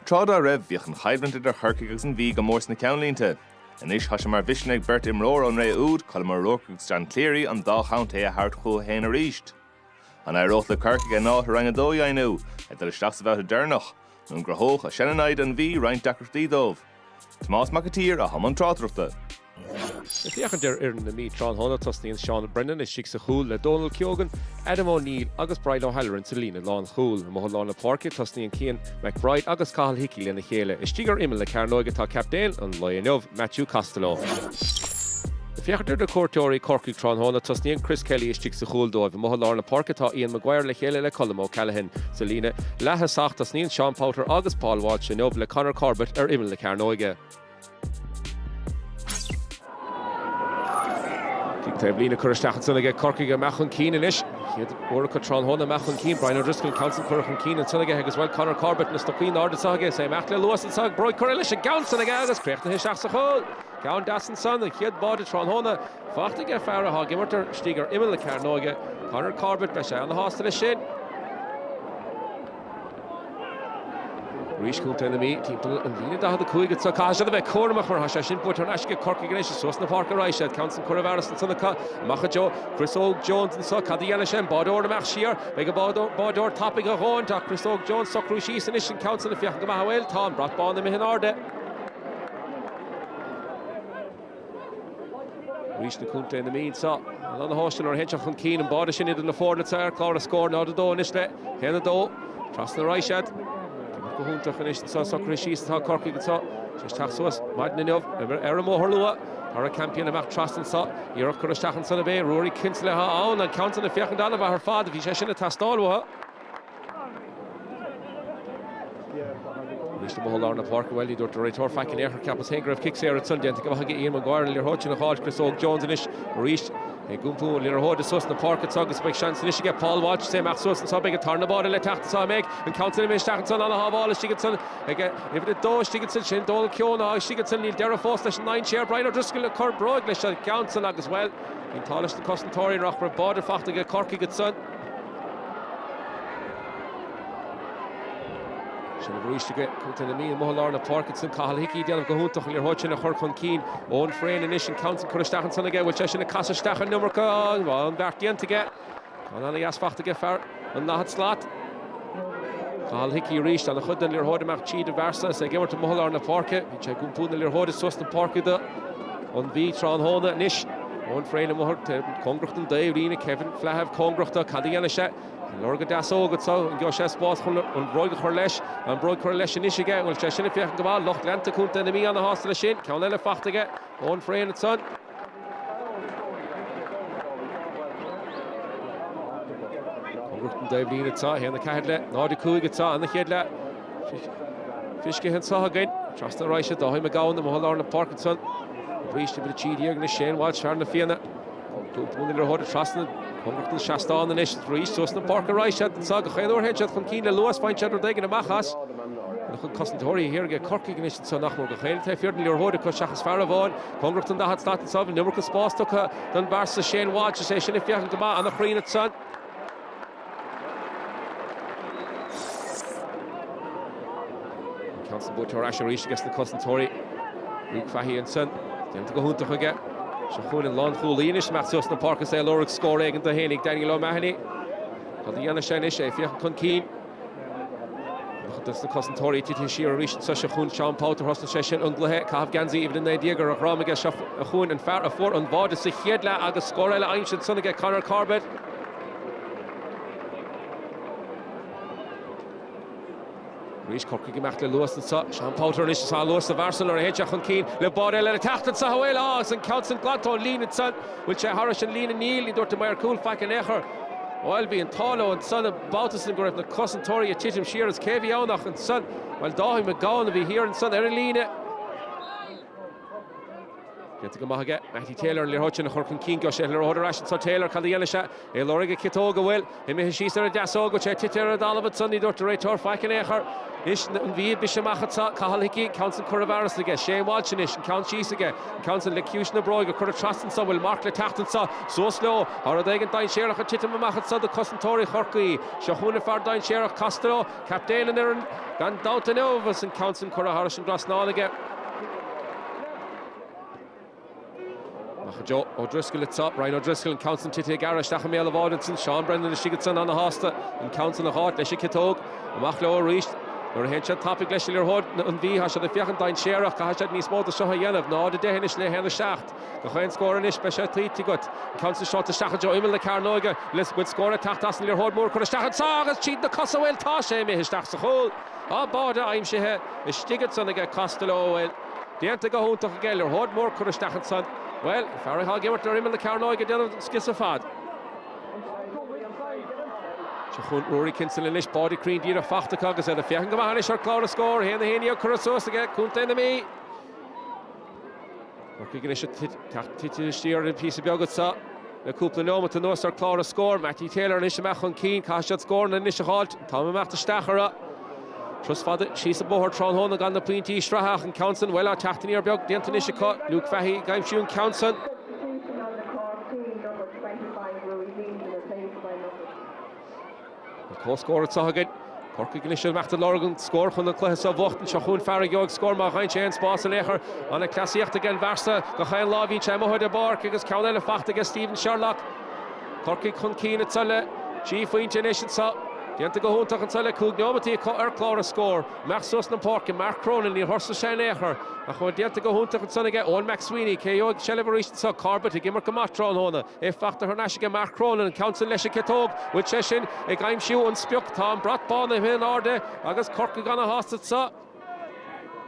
Tráth dá raibh, bhíodh an choimhlint idir Chorcaigh agus an Mhí go mór sna ceannlínte. Anois, tá sé mar mhisean ag beirt imreoir ón ré úd, Colm O'Rourke agus John Cleary, an dá chontae a thabhairt chucu féin arís. An éireodh le Corcaigh a n-áit i Roinn 2 a dheimhniú, ag dul isteach sa bhabhta deireanach? An gcruthódh a seannamhaid an Mhí roinnt deacrachtaí dóibh? Tomás Mac a tSaoir, atá i mbun tráchtaireachta. Ag féachaint ar fhoireann na Mí tráthnóna, tosnaíonn Seán Brennan istigh sa chúl le Dónal Keogan, Adam O'Neill agus Brian O'Halloran sa líne lánchúil. Amuigh i lár na páirce, tosnaíonn Cian McBride agus Cathal Hickey lena chéile. Istigh ar imeall na cearnóige tá captaen an lae inniu, Matthew Costello. Ag féachaint ar na cuairteoirí Corcaigh tráthnóna, tosnaíonn Chris Kelly istigh sa chúl dóibh. Amuigh i lár na páirce tá Ian Maguire le chéile le Colm O'Callaghan. Sa líne leaththosach tosnaíonn Seán Powter agus Paul Walsh inniu le Conor Corbett ar imeall na cearnóige. Taobhlíne curtha isteach ansan aige Corcaigh ag imeacht chun cinn anois. Uair acu tráthnóna, ag imeacht chun cinn Brian O'Driscoll, ceann san curtha chun cinn ansan aige agus bhuel Conor Corbett, na stocaí in airde anseo aige, is é ag imeacht le luas anseo aige, bróg curtha leis an gceann san aige agus críochnaithe isteach sa chúl. Ceann deas ansan, an chéad bháide tráthnóna. Fachta aige fear atá ag imirt ar istigh ar imeall na cearnóige, Conor Corbett, beidh sé ana-shásta leis sin. Arís Contae na Mí, timpeall an líne 45 anso, caithfidh siad a bheith cúramach mar tá sé sin buaite ar n-ais aige Corcaigh anois suas na páirce raghaidh siad, ceann san curtha i bhfearas ansan acu, amach i dtreo Chris Óg Jones anso, cad a dhéanfaidh sé, an báideoir ag imeacht siar, an mbeidh an báideoir tapaidh a dhóthaint ach Chris Óg Jones, socrú síos anois an ceann san ag féachaint go maith bhuel tá an brat bán imithe in airde. Arís do Chontae na Mí anseo. Ana-shásta leo féin teacht chun cinn. An báide sin idir na foirne atá ar chlár na scór 0-2 anois le 1-2. Trasna a raghaidh siad. Tá go hiontach anois anseo socraithe síos atá Corcaigh anseo. Tar éis teacht suas maidin inniu ar an mbóthar luath. Darragh Campion amach trasna anseo. Iarracht curtha isteach ansan ab ea. Ruairí Kinsella atá ann. An ceann san ag féachaint ana-mhaith ar fad. Bhí sé sin ag teastáil uathu. Anois amuigh i lár na páirce, bhuel, ní dúirt an réiteoir faic in aon chor, cheapas féin go raibh cic saor ansan. Déanta go maith aige Ian Maguire, an liathróid sin a fháilt Chris Óg Jones anois, arís ag iompú an liathróide suas na páirce anseo agus beidh seans anois aige Paul Walsh, is é ag imeacht suas anseo, an mbeidh an tarna báide le teacht anseo an mbeidh an ceann sin imithe isteach anseo, ana-shábháil istigh ansan ag uimhir a dó, istigh ansan sin Dónal Keogan atá istigh ansan, níl deireadh fós leis an ndainséar, Brian O'Driscoll ag cur bróig leis an gceann san agus, bhuel, bhí an t-ádh leis na cosantóirí nach raibh báide faighte ag Corcaigh ansan. Seilbh arís aige Contae na Mí, amuigh i lár na páirce ansan Cathal Hickey, déanamh go hiontach an liathróid sin a chur chun cinn. Eoghan Frayne anois, an ceann san curtha isteach ansan aige, bhfuil sé sin ag casadh isteach an iomarca? Bhuel, an beart déanta aige. Ceann ana-dheas fachta aige, fear an daichead slat. Cathal Hickey arís, ana-chuid den liathróid ag imeacht tríd an bhfear so is é ag imirt amuigh i lár na páirce. Bíonn sé ag iompú na liathróide suas na páirce don Mhí tráthnóna anois. Eoghan Frayne amuigh thart cóngaracht don dtaobh líne, Kevin Flahive cóngarachta, cad a dhéanfaidh sé? Ag lorg an deasóg anseo? An gheobhaidh sé spás chun an bhróig a chur leis? Tá an bróig curtha leis anois aige, an bhfuil sé sin ag féachaint go maith? Lucht leanta contae na Mí ana-shásta leis sin. Ceann eile fachta aige, Eoghan Frayne ansan. Cóngaracht don dtaobh líne anseo, 1, 4 le 0, 5 anseo, an chéad leath. Feiscithe anseo againn, trasna ar ais do Daithí McGowan amuigh i lár na páirce ansan, an bríste uimhir a trí déag le Shane Walsh fear Na Fianna, cuireann an liathróid trasna Cóngarach don seastán anois, arís suas an páirc ar ais ar fad anseo, gach aon uair a théann siad chun cinn le luas, faigheann siad rud éigin amach as. Na cosantóirí siar ag Corcaigh anois anseo nach mór gach aoinne taobh thiar den liathróid acu seachas fear amháin, cóngarach don daichead slat anseo, an iomarca spáis tugtha don bhfear so Shane Walsh is é sin ag féachaint go maith, an-chruinn ansan. An ceann san buaite ar ais arís aiges na cosantóirí. Luke Fahy ansin. Déanta go hiontach aige. Seo chugainn an lánchúlaí anois amach suas na páirce is é ag lorg scór éigin do fhéinig, Daniel O'Mahony. Cad a dhéanfaidh sé anois, é ag féachaint chun cinn? Tá na cosantóirí titithe siar arís anseo. Seo chugainn Seán Powter, thosnaigh sé sin an gcluiche, caitheamh geansaí uimhir a naoi déag ar a dhroim aige. Seo chugainn an fear a fuair an bháide sa chéad leath agus scór eile aimsithe ansin aige, Conor Corbett. Arís Corcaigh ag imeacht le luas anseo. Seán Powter anois is tá luas sa bhfear so nuair a théann sé chun cinn le báide eile ag teacht anseo. Bhuel, á, agus an ceann sin glanta ón líne ansan. Bhfuil sé thairis an líne? Níl. Ní dúirt an maor cúil faic in aon chor. Bhuel, bhí an t-ádh leo ansan an babhta sin go raibh na cosantóirí ag titim siar agus cé a bhí ann ach, ansan, bhuel, Dáithí McGowan a bhí thiar ansan ar an líne. Déanta go maith aige. Mattie Taylor an liathróid sin a chur chun cinn. Gheobhaidh sé an liathróid ar ais anseo. Taylor, cad a dhéanfaidh sé? É ag lorg an ciotóg, bhuel, imithe síos ar an deasóg. Bhfuil sé ag titim ar an dtalamh anseo? Ní dúirt an réiteoir faic in aon chor. Anois an Mhí ag briseadh amach anseo? Cathal Hickey, an ceann san curtha i bhfearas aige. Shane Walsh anois, an ceann síos aige. An ceann san le ciumhais na bróige. Curtha trasna anseo. Bhfuil marc le teacht anseo? Suas leo. Tá rud éigin dainséarach ag titim amach anseo do cosantóirí Chorcaí. Seo chugainn an fear dainséarach, Costello. Captaen an fhoireann gan dabht inniu agus an ceann sin curtha thairis an dtrasnán aige. Amach i dtreo O Driscoll anseo, Brian O Driscoll, an ceann sin titithe gairid isteach i mbéal an bháide ansin, Seán Brennan istigh ansan ana-shásta an ceann san a fháilt, leis an ciotóg. Amach leo arís nuair a théann siad tapaidh leis an liathróid, an Mhí, tá siad ag féachaint dainséarach, caithfidh siad níos mó de seo a dhéanamh, 0-10 anois le 1-7. Gach aon scór anois, beidh sé tuillte agat. An ceann sin seolta isteach i dtreo imeall na cearnóige. Le go bhfuil scór ag teacht as an liathróid mór curtha isteach anseo agus tríd na cosa, bhuel, tá sé imithe isteach sa chúl. Tá báide aimsithe istigh ansan aige Costello, bhuel, déanta go hiontach aige, liathróid mór curtha isteach ansan. Bhuel, fear atá ag imirt ar imeall na cearnóige ag déanamh an scrios ar fad. Seo chugainn Ruairí Kinsella anois, báide cruinn díreach fachta acu agus iad ag féachaint go maith anois ar chlár an scóir. 1-11 curtha suas aige Contae na Mí. Corcaigh anois ag titim siar píosa beag anseo le cúpla nóimeat anuas ar chlár an scóir. Mattie Taylor anois amach chun cinn. Caithfidh siad scóranna anois a fháilt. An t-am imeacht isteach orthu. Turas fada síos an bóthar tráthnóna gan na pointí sraithe ach an ceann san, bhuel, tá teacht aniar beag déanta anois acu. Luke Fahy ag aimsiú an ceann san. Comhscór anseo againn. Corcaigh anois ag imeacht ag lorg an scóir chun an cluiche seo a bhuacht. Anseo chugainn Fear aimsithe scór má gheibheann sé aon spás in aon chor. An-chleasaíocht ag an bhfear so. Gach aon lá bhíonn sé amuigh ar an bpáirc agus ceann eile faighte aige Stephen Sherlock. Corcaigh chun cinn anseo le trí phointe anois anseo. Déanta go hiontach anseo le cúig neomataí ar chlár an scóir. Imeacht suas na páirce Mark Cronin níor thuirsigh sé in aon chor. Ach déanta go hiontach ansan aige Eoin McSweeney. Cé a gheobhaidh an tseilbh arís anseo. Corbett ag imirt go maith tráthnóna. É faighte thar n-ais aige Mark Cronin, ceann san leis an gciotóg, bhfuil sé sin, ag aimsiú an sprioc, tá an brat bán imithe in airde agus Corcaigh ana shásta ansa.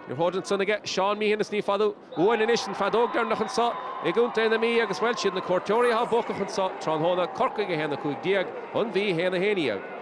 Iarracht ansan aige Seán Meehan is ní fada uainn anois an feadóg deireanach ansa i gContae na Mí agus bhuel is iad na cuairteoirí athá buacach ansa tráthnóna, Corcaigh 1 15, An Mhí 1 11.